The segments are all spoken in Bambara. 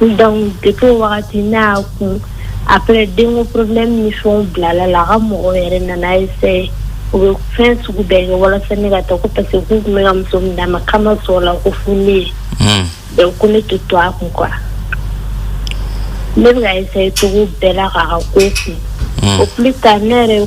Donc depuis o wagati ne y'a kun après denko problème ni fɛnw bilala la a ka mɔgɔw yɛrɛ nana essayer u bɛ fɛn sugu bɛɛ kɛ walasa ne ka taa ko parce que k'u tun bɛ ka muso min d'a ma k'a ma sɔn o la ko fo ne ye Hmm. donc ko ne tɛ to a kun quoi ne bɛ ka essayer cogo bɛɛ la k'a ka ko kun au plus tard ne yɛrɛ ye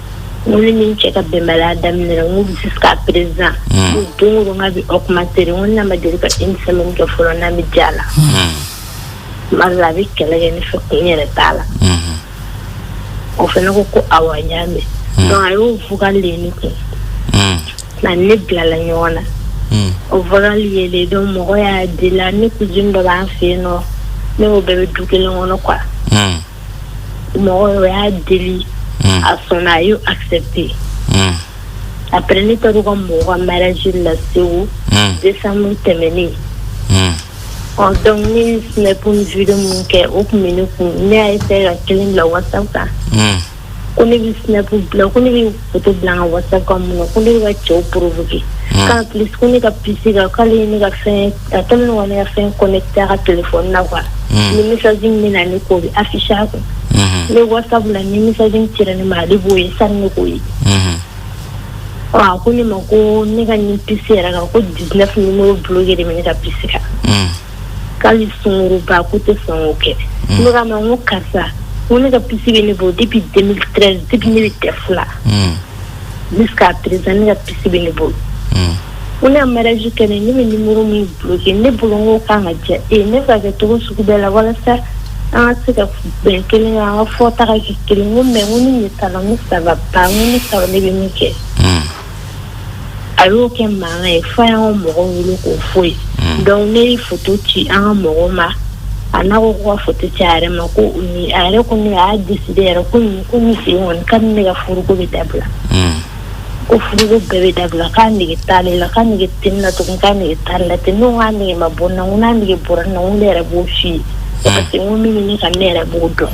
N ni min cɛ ka bɛnbaliya daminɛ n bɛ se ka perez don ka bɛ o kuma se ko na ma deli ka e ni kɛ fɔlɔ na bɛ ja la ma a bɛ kɛlɛ kɛ ne fɛ ko n yɛrɛ t'a la o fana ko ko aw y'a mɛn a y'o fuglen ne kun nka ne bilala ɲɔgɔn na o fɔli ye dɔn mɔgɔ y'a di la ne ko dɔ b'a fɛ yen nɔ ne' bɛɛ bɛ du kelen kɔnɔ kuwa mɔgɔ o y'a deli hmm. a sɔnna a y'o accepté hmm. après ne taara u ka mɔgɔ ka mariage la Segu hmm. décembre tɛmɛnen donc ne ye snap ni video min kɛ o tun bɛ ne kun ne y'a essayer ka kelen bila whatsapp kan ko ne bɛ snap bila ko ne bɛ foto bila n ka whatsapp kan mun na ko ne bɛ ka cɛw provoquer hmm. k'en plus ko ne ka pisi kan k'ale ye ne ka fɛn a kɛlen don ka ne ka fɛn connecté a ka telefɔni na quoi hmm. ni message min bɛ na ne k'o bɛ afficher a kun ne whatsapp la ni message min cira ne ma ale b'o ye sani ne k'o ye a ko ne ma ko ne ka nin pisi yɛrɛ kan ko 19 numéro bloqué de bɛ ne ka pisi kan k'hali sungurunba k'u tɛ sɔn k'o kɛ ne k'a ma n ko karisa n ko ne ka pisi bɛ ne bolo depuis 2013 depuis ne bɛ DEF la jusqu'à présent ne ka pisi bɛ ne bolo ko ne ka mariage kɛ ne ne bɛ nimoro min bloqué ne bolo n k'o kan ka diya e ye ne bɛ ka kɛ cogo sugu bɛɛ la walasa an ka se ka bɛn kelen kan an ka fɔta ka kɛ kelen n ko mais n ko ne ɲɛ t'a la n ko ça va pas n ko ne t'a dɔn ne bɛ min kɛ a y'o kɛ mankan ye fo a y'an ka mɔgɔw wele k'o fɔ u ye hmm. donc ne ye foto ci an ka mɔgɔw ma a n'a ko ko ka foto ci a yɛrɛ ma ko u ni a yɛrɛ ko ne a y'a décidé yɛrɛ ko nin ko nin sen kɔni k'ale ni ne ka furuko bɛ dabila hmm. ko furuko bɛɛ bɛ dabila k'a nege t'ale la k'a nege tɛ ne la tugun k'a nege t'ale la ten ne ko k'a nege ma bɔ n na n ko n'a nege bɔra n na n ko ne yɛrɛ b'o f'i ye hmm. parce que n ko min bɛ ne kan ne yɛrɛ b'o dɔn.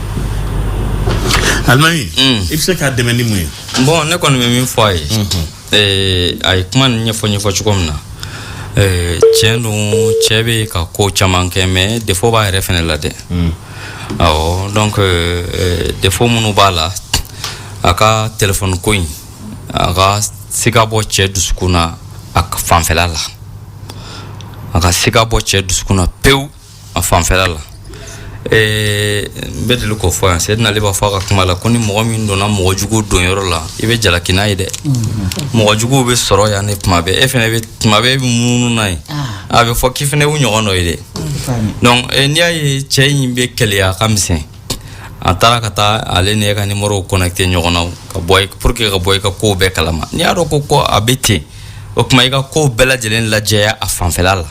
alimami mm. i bɛ se k'a dɛmɛ ni mun ye. bon ne kɔni bɛ min fɔ a ye. ɛɛ a ye kuma nin ɲɛfɔ ɲɛfɔ cogo min na. ɛɛ tiɲɛ don cɛ bɛ ka ko caman kɛ mais défaut b'a yɛrɛ fana la dɛ. Mm. awɔ donc ɛɛ défaut minnu b'a la a ka telefɔni ko in a ka se ka bɔ cɛ dusukun na a fanfɛla la a ka se ka bɔ cɛ dusukun na pewu. a fanfɛla la ee n bɛ deli k'o fɔ yan sɛdina ali b'a fɔ a ka kuma la ko ni mɔgɔ min donna mɔgɔ jugu don yɔrɔ la i bɛ jalaki n'a ye dɛ mɔgɔ juguw bɛ sɔrɔ yan ne tuma bɛɛ e fana bɛ tuma bɛɛ e bɛ munumunu n'a ye a bɛ fɔ k'i fana y'u ɲɔgɔn dɔ ye dɛ donc eh, n'i y'a ye cɛ in bɛ keleya a ka misɛn a taara ka taa ale ni e ka nimorow connecté ɲɔgɔn na ka bɔ i- pour que ka bɔ i ka kow bɛɛ kalama n'i y'a dɔn ko ko a bɛ ten o tuma i ka kow bɛɛ lajɛlen lajɛya a fanfɛla la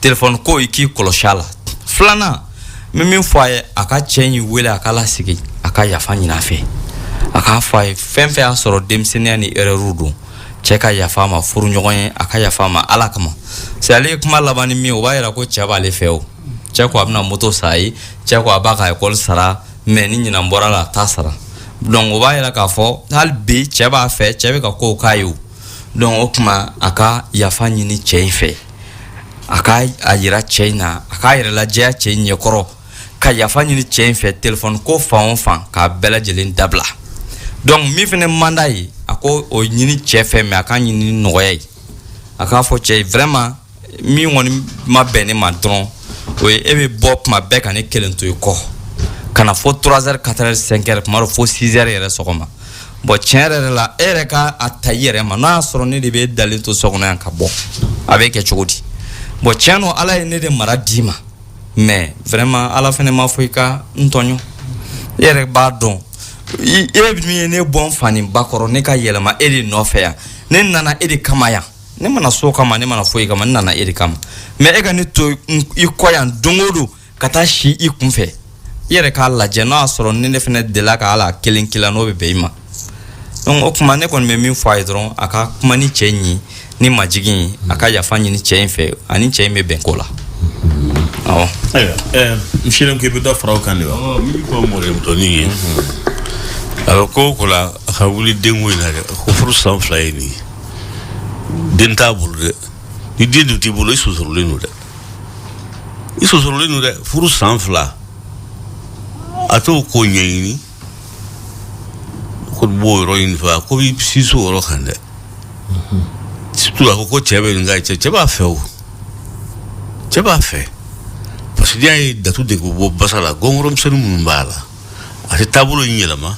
telefɔni ko i k'i kɔlɔsi a la filanan n bɛ min fɔ a ye a ka cɛ in wele a k'a lasigi a ka yafa ɲin'a fɛ a k'a fɔ a ye fɛn fɛn y'a sɔrɔ denmisɛnninya ni erɛriw don cɛ ka yafa ma furu ɲɔgɔn ye a ka yafa ma ala kama se ale ye kuma laban ni min o b'a yira ko cɛ b'ale fɛ o cɛ ko a bɛna moto san a ye cɛ ko a b'a ka ekɔli sara mɛ ni ɲinan bɔra la a t'a sara donc o b'a yira k'a fɔ hali bi cɛ b'a fɛ cɛ bɛ ka kow k'a ye o dɔnku o kuma a ka yafa ɲini cɛ in fɛ a ka a yira cɛ in na a k'a yɛrɛ lajɛya cɛ in ɲɛkɔrɔ ka yafa ɲini cɛ in fɛ telefɔni ko fan o fan k'a bɛɛ lajɛlen dabila dɔnku min fana man d'a ye a k'o ɲini cɛ fɛ mɛ a k'a ɲini nɔgɔya ye a k'a fɔ cɛ ye vraiment min kɔni ma bɛn ne ma dɔrɔn o ye e bɛ bɔ tuma bɛɛ ka ne kelen to i kɔ ka na fo 3 heures 4 heures 5 heures tuma dɔ fo 6 heures yɛrɛ sɔgɔma bɔn tiɲɛ yɛrɛ yɛrɛ la e yɛrɛ ka a ta i yɛrɛ ma n'a y'a sɔrɔ ne de bɛ e dalen to so kɔnɔ yan ka bɔ a bɛ kɛ cogo di bɔn tiɲɛ don ala ye ne de mara d'i ma mɛ vraiment ala fana ma fɔ i ka n tɔɲɔ e yɛrɛ b'a dɔn e min ye ne bɔ n fa ni ba kɔrɔ ne ka yɛlɛma e de nɔfɛ yan ne nana e de kama yan ne ma na so kama ne ma na foyi kama ne nana e de kama mɛ e ka ne to i kɔ yan don o don ka taa si i kun fɛ i yɛrɛ k'a lajɛ n'a y'a sɔrɔ ni ne fana delila ka hali kelen k'i la n'o bɛ bɛn i ma donc o kuma ne kɔni bɛ min fɔ a ye dɔrɔn a ka kuma ni cɛ in ye ni majigin ye a ka yafa ɲini cɛ in fɛ a ni cɛ in bɛ bɛn ko la awɔ. ayiwa ɛɛ n selen ko i bɛ dɔ fara o kan de wa. ɔ n bɛ kɔ mɔdɛli dɔɔni ye. a bɛ ko o ko la a ka wuli denko in na dɛ ko furu san fila ye nin ye. den t'a bolo dɛ ni den dun t'i bolo i sonsorolen don dɛ i sonsorolen don dɛ furu san fila a t'o ko ɲɛɲini ko b'o yɔrɔ ɲini fɛ a ko b'i siso yɔrɔ kan dɛ surtout a ko ko cɛ bɛ nin ka cɛ cɛ b'a fɛ o cɛ b'a fɛ parce que n'i y'a ye datu de ko bɔ basa la gɔngɔrɔmisɛnnin minnu b'a la a tɛ taabolo in yɛlɛma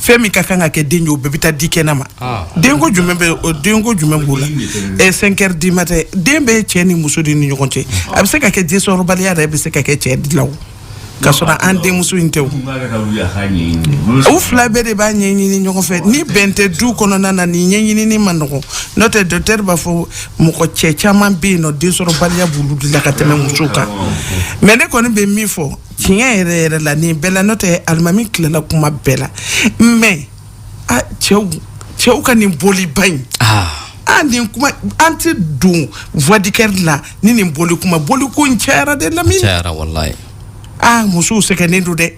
fɛn min ka kan ka kɛ den ye o bɛɛ bɛ taa di kɛnɛ ma ah. denko jumɛn bɛ o denko jumɛn b'o la ɛ cinq heures du matin den bɛ cɛ ni muso de ni ɲɔgɔn cɛ a bɛ se ka kɛ densɔrɔbaliya yɛrɛ bɛ se ka kɛ cɛ de la o ka sɔrɔ an denmuso in tɛ o u fila bɛɛ de b'a ɲɛɲini ɲɔgɔn fɛ ni bɛn tɛ du kɔnɔna na nin ɲɛɲinini man nɔgɔn n'o tɛ dɔkitɛri b'a fɔ mɔgɔ cɛ caman bɛ yen nɔ densɔrɔbaliya b'olu de la ka tɛmɛ musow kan mɛ ne kɔni bɛ min fɔ tiɲɛ yɛrɛ yɛrɛ la nin bɛɛ la n'o tɛ alimami tilala kuma bɛɛ la mɛ a cɛw cɛw ka nin bɔliba in ah. a nin kuma an tɛ don voix du cœur la ni nin bɔli kuma bɔli ko in cayara dɛ lamini cayara walayi ah musow sɛgɛnnen don dɛ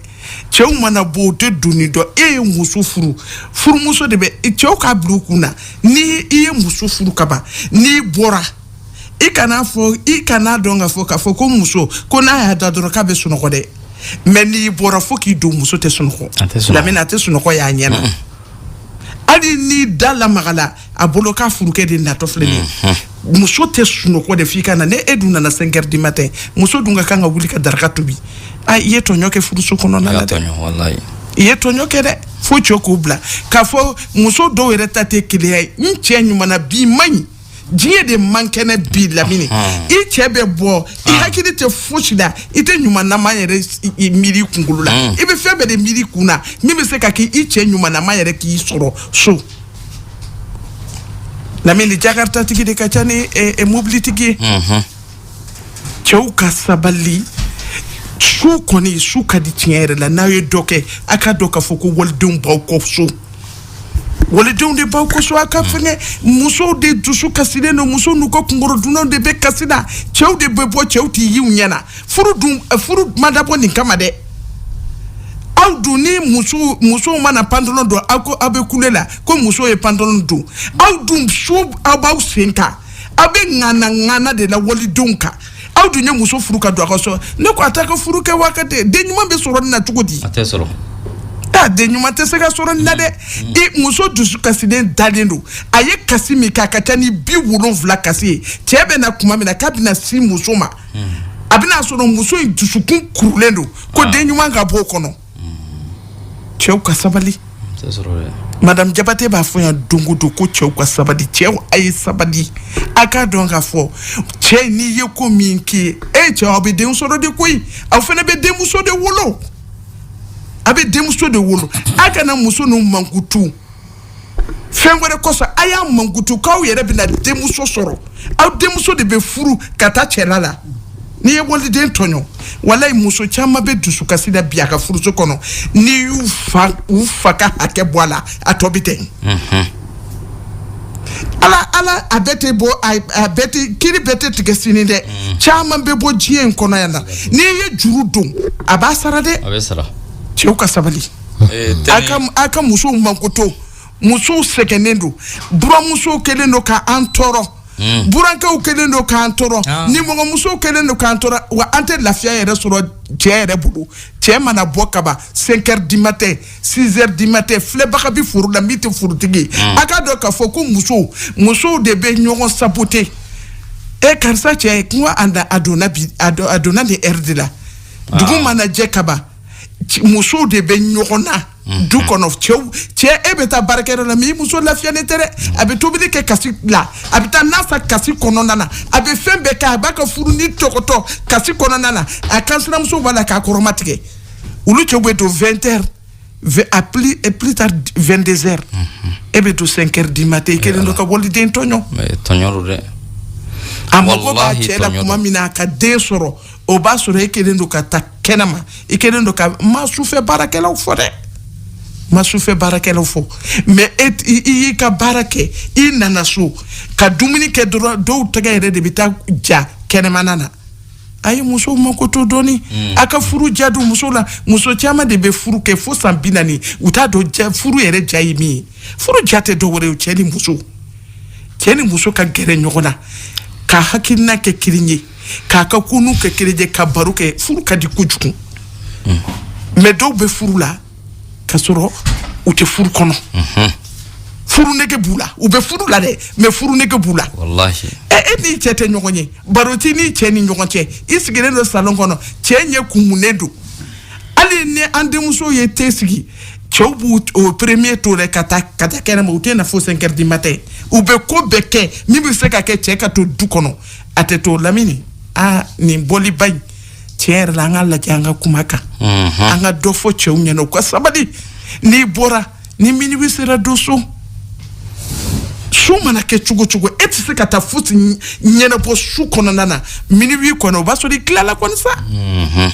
cɛw mana bɔ u tɛ donni dɔn e ye muso furu furumuso de bɛ cɛw k'a bila u kun na ni i ye muso furu kaban n'i bɔra i kana fɔ i kana dɔn ka fɔ k'a fɔ ko muso ko n'a y'a da dɔrɔn k'a bɛ sunɔgɔ dɛ mɛ n'i bɔra fo k'i don muso tɛ sunɔgɔ lamini a tɛ sunɔgɔ y'a ɲɛna hali ni da lamagala a bolo k'a furukɛ de natɔ filɛ nin mm-hmm. muso tɛ sunɔgɔ dɛ f'i ka na n'e dun nana cinq heures du matin muso dun ka kan ka wuli ka daraka tobi a i ye tɔɲɔ kɛ furuso kɔnɔna la dɛ i ye tɔɲɔ kɛ dɛ fo cɛ k'o bila k'a fɔ muso dɔw yɛrɛ ta tɛ keleya ye n cɛ ɲuman na bi man ɲi diɲɛ de man kɛnɛ bi lamini i cɛ bɛ bɔ i ah. hakili tɛ fosi la i tɛ ɲumanama yɛrɛ miiri kunkolo la mm. i bɛ fɛn bɛɛ de miiri kun na min bɛ se ka kɛ i cɛ ɲumanama yɛrɛ k'i sɔrɔ so lamini jakartatigi de ka ca ni eh, eh, mobilitigi ye mm-hmm. cɛw ka sabali su kɔni su ka di tiɲɛ yɛrɛ la n'aw ye dɔ kɛ a k'a dɔn k'a fɔ ko walidenw b'aw kɔ so walidenw de b'aw kɔ so a ka fɛngɛ musow de dusu kasilen don musow n'u ka kunkɔrɔdonnanw de bɛ kasi na cɛw de bɛ bɔ cɛw tɛ ye u ɲɛ na furu dun eh, furu ma dabɔ nin kama dɛ aw dun ni muso musow mana pantalon don aw ko aw bɛ kule la ko muso ye pantalon don aw dun so aw b'aw sen kan aw bɛ ŋana ŋana de la walidenw kan aw dun ye muso furu ka don aw ka so ne ko a t'a ka furu kɛ waa ka tɛ den ɲuman bɛ sɔrɔ nin na cogo di. a tɛ sɔrɔ. a den ɲuman tɛ se ka sɔrɔ nin na dɛ mm. i muso dusu kasilen dalen don a ye kasi min kɛ a ka ca ni bi wolonwula kasi ye cɛ bɛ na tuma min na k'a bɛna se muso ma mm. a bɛn'a sɔrɔ muso in dusukun kurulen don ko ah. den ɲuman ka bɔ o kɔnɔ. cɛw ka sabali madame jabate b'a fɔ yan don o don ko cɛw ka sabali cɛw a ye sabali a k'a dɔn k'a fɔ cɛ n'i ye ko min k'i ye e cɛw aw bɛ den sɔrɔ de koyi aw fana bɛ denmuso de wolo a bɛ denmuso de wolo a kana muso n'u mankutu fɛn wɛrɛ kɔsɔn a y'a mankoto k'aw yɛrɛ bɛna denmuso sɔrɔ aw denmuso de bɛ furu ka taa cɛla la n'i ye waliden tɔɲɔ walayi muso caman bɛ dusukasi la bi a ka furuso kɔnɔ n'i y'u fa u fa ka hakɛ bɔ a la a tɔ bɛ tɛn mhm. ala ala a bɛɛ tɛ bɔ a bɛɛ tɛ kiri bɛɛ tɛ tigɛ sini dɛ mhm. caman bɛ bɔ diɲɛ in kɔnɔ yan na n'i ye juru don a b'a sara dɛ a bɛ sara cɛw ka sabali eh, a ka musow mankoto musow sɛgɛnnen don buramusow kɛlen don ka an tɔɔrɔ hmm. burankɛw kɛlen don k'an tɔɔrɔ ah. nimɔgɔmusow kɛlen don k'an tɔɔrɔ wa an tɛ lafiya yɛrɛ sɔrɔ cɛ yɛrɛ bolo cɛ mana bɔ kaba 5 heures du matin 6 heures du matin filɛbaga bi foro la min tɛ forotigi ye hmm. a k'a dɔn k'a fɔ ko musow musow de bɛ ɲɔgɔn saboter e karisa cɛ kuma a donna bi a donna nin heure de la ah. dugu mana jɛ kaba musow de bɛ ɲɔgɔn na mhm. du kɔnɔ cɛw cɛ e bɛ taa baarakɛyɔrɔ la mais i muso lafiyalen tɛ dɛ mhm. a bɛ tobili kɛ kasi la a bɛ taa na san kasi kɔnɔna na a bɛ fɛn bɛɛ kɛ a b'a ka furu nin topoto kasi kɔnɔna na a kansinamuso b'a la k'a kɔrɔmatigɛ olu cɛw bɛ don 20 heures à plus, à plus tard 22 heures mhm. e bɛ don 5 heures du matin i kɛlen don ka waliden tɔɲɔ tɔɲɔ don dɛ a mago b'a cɛ la tuma min na a ka den sɔrɔ o b'a sɔrɔ e kɛlen don ka taa kɛnɛma i kɛlen don ka n ma sufɛ baarakɛlaw fɔ dɛ n ma sufɛ baarakɛlaw fɔ mais e i y'i ka baara kɛ i nana so ka dumuni kɛ dɔrɔn dɔw tɛgɛ yɛrɛ de bɛ taa ja kɛnɛmana na a ye musow mako to dɔɔni mm. a ka furu ja don muso la muso caman de bɛ furu kɛ fo san bi naani u t'a dɔn ja furu yɛrɛ ja ye min ye furu ja tɛ dɔ wɛrɛ ye cɛ ni muso cɛ ni muso ka gɛrɛ ɲɔgɔn na ka hakilina kɛ kelen ye k'a ka ko ninnu kɛ kelen ye ka baro kɛ furu ka di kojugu mais dɔw bɛ furu la ka sɔrɔ u tɛ furu kɔnɔ furu nege b'u la u bɛ furu la dɛ mais furu nege b'u la e e n'i cɛ tɛ ɲɔgɔn ye baro t'i n'i cɛ ni ɲɔgɔn cɛ i sigilen don salon kɔnɔ cɛ ɲɛ kumunen don hali ni an denmuso ye te sigi cɛw b'o premier to dɛ ka taa ka taa kɛnɛma u tɛ na fo 5 heures du matin u bɛ ko bɛɛ kɛ min bɛ se ka kɛ cɛ ka to du kɔnɔ a tɛ to lamini aa nin bɔliba in tiɲɛ yɛrɛ la an k'a lajɛ an ka kuma a kan an ka dɔ fɔ cɛw ɲɛna u ka sabali n'i bɔra ni minuit sera don so su mana kɛ cogo cogo e tɛ se ka taa fosi ɲ- ɲɛnabɔ su kɔnɔna na minuit kɔnɔ o b'a sɔrɔ i tilala kɔni sa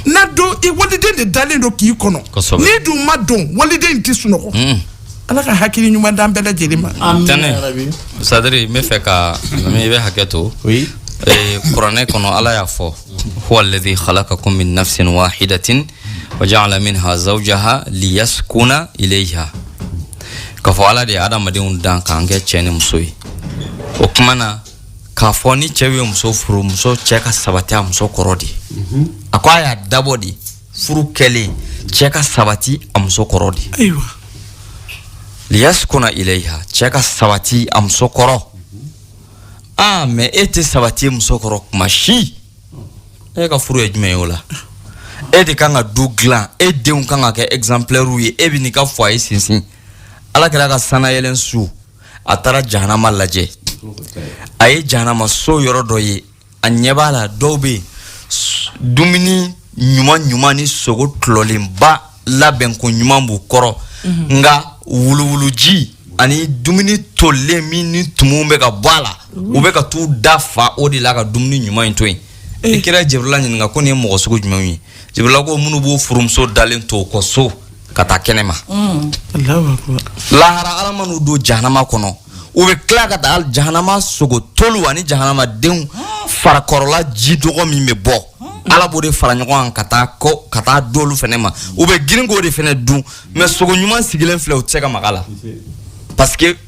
na don i waliden de dalen don k'i kɔnɔ Kosɛbɛ. n'i dun ma don waliden in tɛ sunɔgɔ ala ka hakili ɲuman d'an bɛɛ lajɛlen ma tɛnɛ sadiri n bɛ fɛ ka i bɛ hakɛ to kuranɛ kɔnɔ ala y'a fɔ huwa alladhi khalaqakum min nafsin wahidatin wa ja'ala minha zawjaha liyaskuna ilayha k'a fɔ ala de ye adamadenw dan k'an kɛ cɛ ni muso ye o kuma na k'a fɔ ni cɛ ye muso furu muso cɛ ka sabati a muso kɔrɔ de a ko a y'a dabɔ de furu kɛlen cɛ ka sabati a muso kɔrɔ de ayiwa liyaskuna ilayha cɛ ka sabati a muso kɔrɔ aa mais e tɛ sabati i muso kɔrɔ kuma si e ka furu ye jumɛn ye o la e de kan ka du dilan e denw kan ka kɛ exemplaires ye e bɛn'i ka foyer sinsin ala kira ka sanayɛlɛn su a taara jahanama lajɛ a ye jahanama so yɔrɔ dɔ ye a ɲɛ b'a la dɔw bɛ yen dumuni ɲuman ɲuman ni sogo tɔlɔlenba labɛn ko ɲuman b'u kɔrɔ mhm. nka wuluwuluji ani dumuni tolilen min ni tumuw bɛ ka bɔ a la mhm. u bɛ ka t'u da fa o de la ka dumuni ɲuman in to yen eh. i kira jɛbirila ɲininka ko nin ye mɔgɔ sugu jumɛnw ye jɛbirila ko minnu b'u furumuso dalen to u kɔ so ka taa kɛnɛ ma Allahu akbar. lahara ala man'u don jahanama kɔnɔ u bɛ tila ka taa jahanama sogo tolu ani jahanama denw farakɔrɔla ji nɔgɔ min bɛ bɔ ala b'o de fara ɲɔgɔn kan ka t'a d'olu fɛnɛ ma u bɛ girin k'o de fɛnɛ dun mais sogo ɲuman sigilen filɛ u tɛ se ka maga a la parce que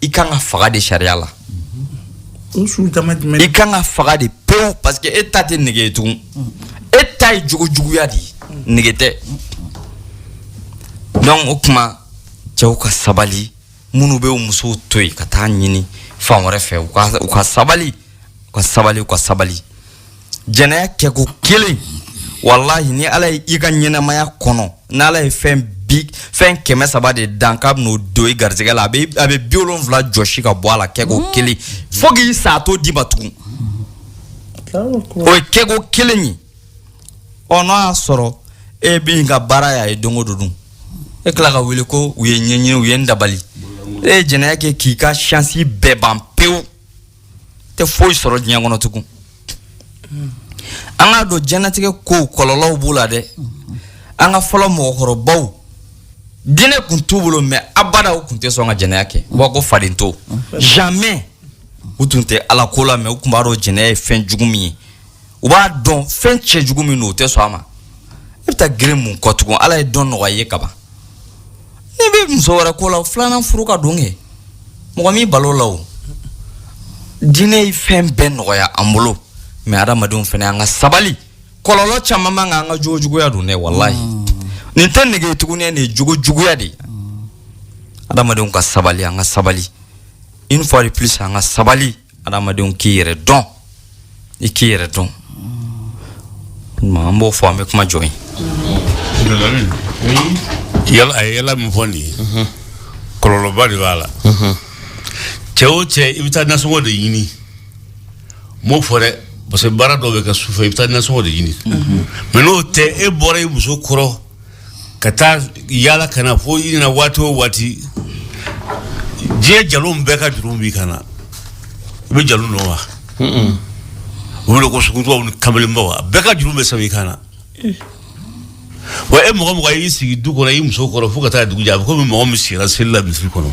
i kan ka faga de sariya la i kan ka faga de pewu parce que e ta tɛ nege ye tugun e ta ye jogo juguya de ye nege tɛ donc o kuma cɛw ka sabali minnu bɛ u musow to yen ka t'a ɲini fan wɛrɛ fɛ u ka sabali u ka sabali u ka sabali jɛnɛya kɛko kelen walahi ni ala ye i ka ɲɛnamaya kɔnɔ n'ala ye fɛn bi fɛn kɛmɛ saba de dan k'a bɛn'o don i garijɛgɛ la a bɛ a bɛ bi wolonwula jɔsi ka bɔ a la kɛko mm. kelen fo k'i sa a t'o d'i ma tugun o ye kɛko kelen ye ɔ n'a y'a sɔrɔ e b'i ka baara y'a ye don o don dun e tila ka wele ko u ye n ɲɛɲini u ye n dabali e ye jɛnɛya kɛ k'i ka chance bɛɛ ban pewu tɛ foyi sɔrɔ diɲɛ kɔnɔ tugun an k'a dɔn diɲɛlatigɛ kow kɔlɔlɔw b'u la dɛ an ka fɔlɔ mɔgɔkɔrɔbaw diinɛ kun t'u bolo mais abada u kun tɛ sɔn ka jɛnɛya kɛ u b'a ko faden to jamais u tun tɛ ala ko la mais u tun b'a dɔn jɛnɛya ye fɛn jugu min ye u b'a dɔn fɛn cɛjugu min don u tɛ sɔn a ma i bɛ taa gere mun kɔ tugun ala ye dɔn nɔgɔya ye kaban n'i bɛ muso wɛrɛ ko la filanan furu ka don kɛ mɔgɔ m'i bali o la o diinɛ ye fɛn bɛɛ nɔgɔya an bolo mais adamadenw fana an ka sabali kɔlɔlɔ caman man kan an ka jogo juguya don dɛ walahi mm. nin tɛ nege tuguni nin ye jogo juguya de ye mm. adamadenw ka sabali an ka sabali une fois de plus an ka sabali adamadenw k'i yɛrɛ dɔn i k'i yɛrɛ dɔn an b'o fɔ an bɛ kuma jɔ ye yala a ye yala min fɔ nin ye mhm. kɔlɔlɔba de b'a la mhm. cɛ o cɛ i bɛ taa nasɔngɔ de ɲini n m'o fɔ dɛ parce que baara dɔw bɛ kɛ sufɛ i bɛ taa nasɔngɔ de ɲini mhm. mais n'o tɛ e bɔra i muso kɔrɔ ka taa yala ka na fo i nana waati o waati diɲɛ jalon bɛɛ ka jurumu b'i kan na i bɛ jalon dɔn wa o wele ko sungurunbaw ni kamalenbaw a bɛɛ ka jurumu bɛ sɛbɛn i kan na wa e mɔgɔ mɔgɔ y'i sigi du kɔnɔ i muso kɔrɔ fo ka taa dugu jɛ a bɛ komi mɔgɔ min sira seli la misiri kɔnɔ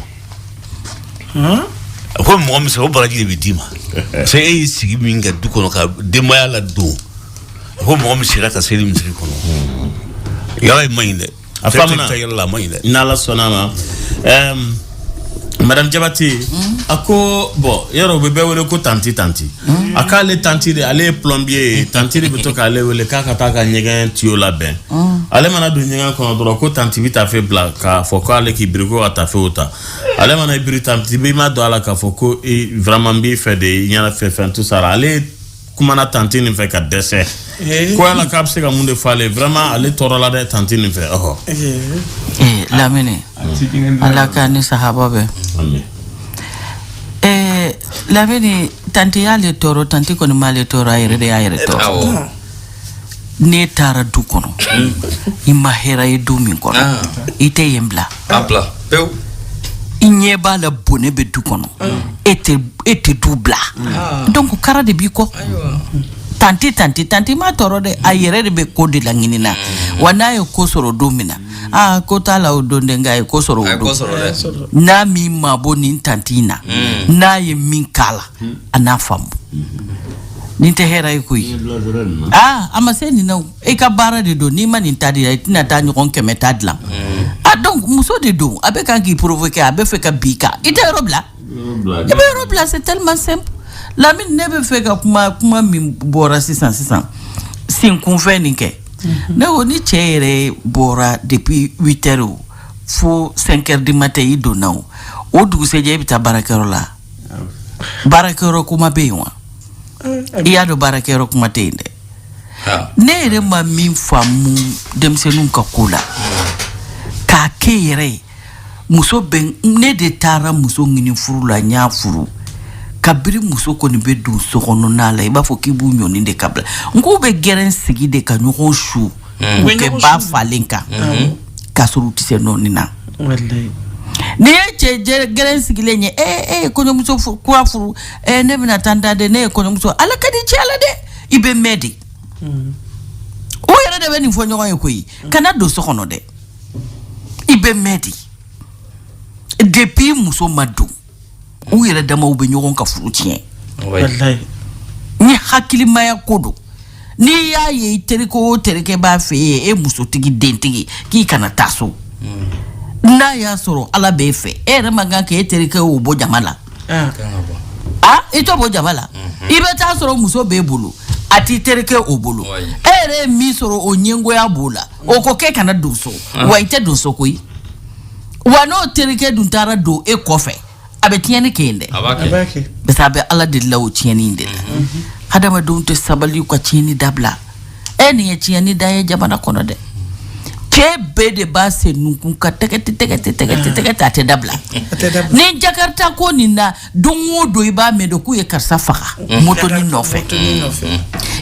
a ko mɔgɔ min sɔrɔ o baraji de bɛ d'i ma parce que e y'i sigi min kɛ du kɔnɔ ka denbaya ladon a ko mɔgɔ min sira ka seli misiri kɔnɔ yala man ɲi dɛ a faamuna yala man ɲi dɛ n'ala sɔnna a ma ɛɛm madame jabati a ko bɔn yɔrɔ u bɛ bɛɛ wele ko tanti tanti a k'ale tanti de ale ye plombier ye tanti de bɛ to k'ale wele k'a ka taa ka ɲɛgɛn tiyo labɛn ale mana don ɲɛgɛn kɔnɔ dɔrɔn ko tanti bɛ taafe bila k'a fɔ ko ale k'i biri ko ka taafew ta ale mana i biri tanti b'i madon a la k'a fɔ ko i vraiment n b'i fɛ de i ɲɛna fɛn fɛn tout ça ale kumana tanti nin fɛ ka dɛsɛ eh. ko yala k'a bɛ se ka mun de fɔ ale vraiment ale tɔɔrɔla dɛ tanti nin fɛ ɔhɔ eh. eh, lamini ala ka ni sahaba bɛ lamini tanti y'ale tɔɔrɔ tanti kɔni m'ale tɔɔrɔ a yɛrɛ de y'a yɛrɛ tɔɔrɔ n'e taara du kɔnɔ i ma hɛra ye du min kɔnɔ Ah. i tɛ yen bila A bila pewu. i ɲɛ b'a la bone bɛ du kɔnɔ e tɛ e tɛ du bila donc kara de b'i kɔ tanti tanti tanti m'a tɔɔrɔ dɛ a yɛrɛ de bɛ ko de laɲini na wa n'a ye ko sɔrɔ don min na aa ko t'a la o don dɛ nka a ye ko sɔrɔ A ye o ko don sɔrɔ dɛ. n'a m'i mabɔ nin tanti in na n'a ye min k'a la a n'a faamu Nin tɛ hɛrɛ ye koyi aa a ma se nin na e ka baara de don n'i ma nin ta dilan i tɛna taa ɲɔgɔn kɛmɛ ta dilan donc muso de don a bɛ kan k'i provoquer a bɛ fɛ ka bin i kan i tɛ yɔrɔ bila i bɛ yɔrɔ bila c'est tellement simple lamini ne bɛ fɛ ka kuma kuma min bɔra sisan sisan senkunfɛn nin kɛ ne ko ni cɛ yɛrɛ bɔra depuis huit heures fo cinq heures du matin i donna o o dugusɛjɛ i bɛ taa baarakɛyɔrɔ la baarakɛyɔrɔ kuma bɛ yen wa i y'a dɔn baarakɛyɔrɔ kuma tɛ yen dɛ ne yɛrɛ ma min faamu denmisɛnninw ka ko la k'a kɛ yɛrɛ ye muso bɛ ne de taara muso ɲini furu la n y'a furu kabiri muso kɔni bɛ don so kɔnɔna la i b'a fɔ k'i b'u ɲɔni de ka bila n k'u bɛ gɛrɛn sigi de ka ɲɔgɔn su u bɛ kɛ ba falen kan k'a sɔrɔ u tɛ se nɔɔni na Walayi. n'i ye cɛ jɛ- gɛrɛn sigilen ye ee e ye kɔɲɔmuso fu- kura furu ee ne bɛna taa n da de ne ye kɔɲɔmuso ala ka di cɛ la dɛ i bɛ mɛn de o yɛrɛ de bɛ nin fɔ ɲɔgɔn ye koyi kana don so kɔnɔ dɛ i bɛ mɛn de depuis muso ma don u yɛrɛ damaw bɛ ɲɔgɔn ka furu tiɲɛ ni hakilimaya ko don n'i y'a ye i terikɛ o terikɛ b'a fɛ ye e musotigi dentigi k'i kana taa so hmm. n'a y'a sɔrɔ ala b'e fɛ e yɛrɛ man kan k'e terikɛ o bɔ jama la ah. Ah, i t'o bɔ jama la mhm. i bɛ taa sɔrɔ muso b'e bolo a t'i terikɛ o bolo e yɛrɛ ye min sɔrɔ o ɲɛngoya b'o la o ko k'e kana don so ah. wa i tɛ don so koyi wa n'o terikɛ dun taara don e kɔfɛ a bɛ tiɲɛni kɛ yen dɛ parce que a bɛ ala de la o tiɲɛni in de la mhm. hadamadenw tɛ sabali ka tiɲɛni dabila e nin ye tiɲɛni dan ye jamana kɔnɔ dɛ cɛ bɛɛ de b'a sen nunkun kan tɛgɛti tɛgɛti tɛgɛti tɛgɛti a tɛ dabila ni jakarita ko nin na don o don i b'a mɛn de k'u ye karisa faga motoni nɔfɛ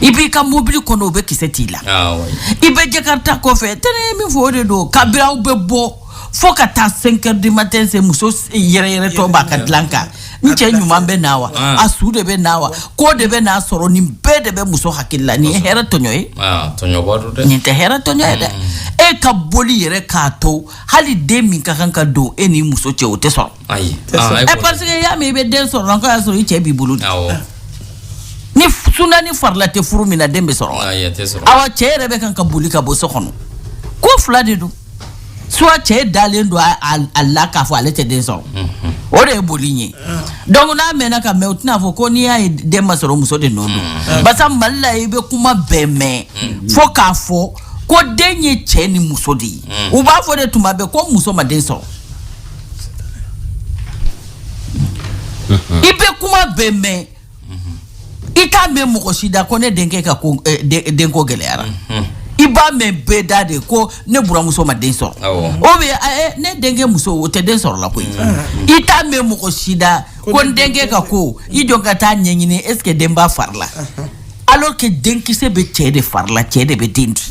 i b'i ka mobili kɔnɔ o bɛ kisɛ t'i la ah, i bɛ jakarita kɔfɛ tɛ ne ye min fɔ o de don kabiri aw bɛ bɔ fo ka taa cinq heures du matin se muso yɛrɛyɛrɛtɔ b'a ka dilan kan n cɛ ɲuman bɛ na wa ah. a su de bɛ na wa ko de bɛn'a sɔrɔ nin bɛɛ de bɛ muso hakili la nin ye hɛrɛ tɔɲɔ ye ah, nin tɛ hɛrɛ tɔɲɔ ye dɛ mm. e ka boli yɛrɛ k'a to hali den min ka kan ka don e ni muso cɛ o tɛ sɔrɔ ayi Tɛ sɔn. aa, e ɛ kɔni- parce que y'a mɛn i bɛ den sɔrɔ dɔrɔn k'a y'a sɔrɔ i cɛ b'i bolo de awɔ ni f- suna ni farila tɛ furu min na den bɛ sɔrɔ wa ayi a tɛ sɔrɔ awa cɛ yɛrɛ bɛ kan ka boli ka bɔ so kɔnɔ ko fila de don soit cɛ dalen don a- a a la k'a fɔ ale tɛ den sɔrɔ o de ye boli in ye donc n'a mɛnna ka mɛn o tɛna fɔ ko n'i y'a ye den ma sɔrɔ muso de nɔ don barisa mali la i bɛ kuma bɛɛ mɛn fo k'a fɔ ko den ye cɛ ni muso de ye u b'a fɔ de tuma bɛɛ ko muso ma den sɔrɔ i bɛ kuma bɛɛ mɛn i t'a mɛn mɔgɔ si da ko ne denkɛ ka eh, denko gɛlɛyara i b'a mɛn bɛɛ da de ko ne buramuso ma den sɔrɔ o bɛ eh, eh, ne denkɛ muso o tɛ den sɔrɔ la koyi i t'a mɛn mɔgɔ si da ko n denkɛ ka ko i jɔ n ka taa ɲɛɲini est ce que den b'a fari la alors que denkisɛ bɛ cɛ de fari la cɛ de bɛ den di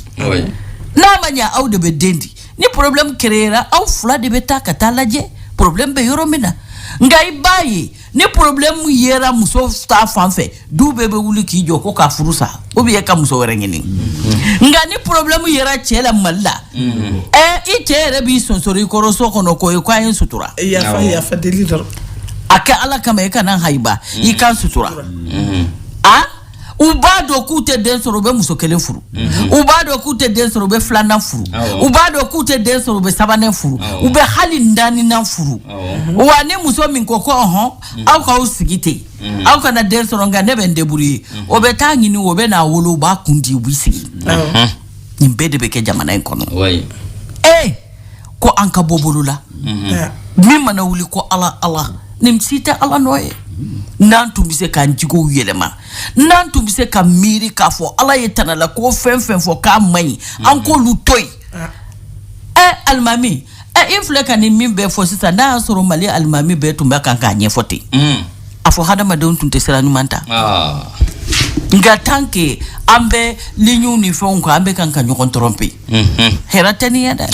n'a ma ɲɛ aw de bɛ den di ni problème kɛra aw fila de bɛ taa ka t'a lajɛ problème bɛ yɔrɔ min na nka i b'a ye ni problème yera muso ta fan fɛ du bɛɛ bɛ wuli k'i jɔ ko k'a furu sa ou bien ka muso wɛrɛ ɲini nka ni problème yera cɛ la mali la ɛ i cɛ yɛrɛ b'i sonsori i kɔrɔ so kɔnɔ k'o ye k'a ye n sutura yafa yafa deli dɔrɔn a kɛ ala kama i kana hayiba i ka n sutura a u b'a dɔn k'u tɛ den sɔrɔ u bɛ muso kelen furu mhm. u b'a dɔn k'u tɛ den sɔrɔ u bɛ filanan furu u b'a dɔn k'u tɛ den sɔrɔ u bɛ sabanan furu u bɛ hali naaninan furu mhm. wa ni muso min ko ko ɔhɔn mhm. aw k'aw sigi ten aw kana den sɔrɔ nka ne bɛ n débrouiller o bɛ t'a ɲini o bɛ n'a wolo u b'a kun di u bɛ sigi nin bɛɛ de bɛ kɛ jamana in kɔnɔ ee ko an ka bɔ bolo la min mana wuli ko ala ala nin si tɛ ala nɔ ye n'an tun bɛ se k'an jogow yɛlɛma n'an tun bɛ se ka miiri k'a fɔ ala ye tana la ko fɛn fɛn fɔ k'a man ɲi an k'olu to yen ɛ alimami ɛ i filɛ ka nin min bɛɛ fɔ sisan n'a y'a sɔrɔ mali alimami bɛɛ tun bɛ kan k'a ɲɛfɔ ten a fɔ hadamadenw tun tɛ sira ɲuman ta ah. nka tant que an bɛ liɲiw ni fɛnw kan an bɛ kan ka ɲɔgɔn tromper mhm. hɛrɛ tɛ nin ye dɛ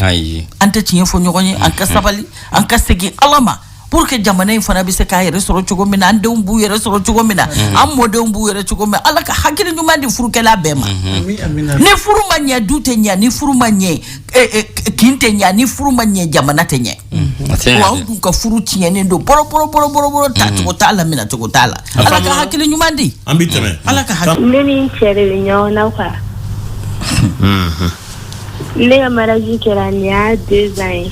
an tɛ tiɲɛ fɔ ɲɔgɔn ye an ka mhm. sabali an ka segin ala ma pour que jamana in fana bɛ se k'a yɛrɛ sɔrɔ cogo min na an denw b'u yɛrɛ sɔrɔ cogo min na mhm. an mɔdenw b'u yɛrɛ cogo min ala ka hakili ɲuman di furukɛla bɛɛ ma ni furu ma ɲɛ du tɛ ɲɛ ni furu ma ɲɛ eh, eh, kin tɛ ɲɛ ni furu ma ɲɛ jamana tɛ ɲɛ A tɛ ɲɛ wa dɛ. an dun ka furu tiɲɛnen don bɔrɔbɔrɔbɔrɔbɔrɔ ta cogo t'a la minɛ cogo t'a la ala ka faamuya. hakili ɲuman di an bɛ tɛmɛ ala ka hakili ne ni n cɛ de bɛ ɲɔgɔn na quoi ne ka mariage kɛra nin y'a deux ans ye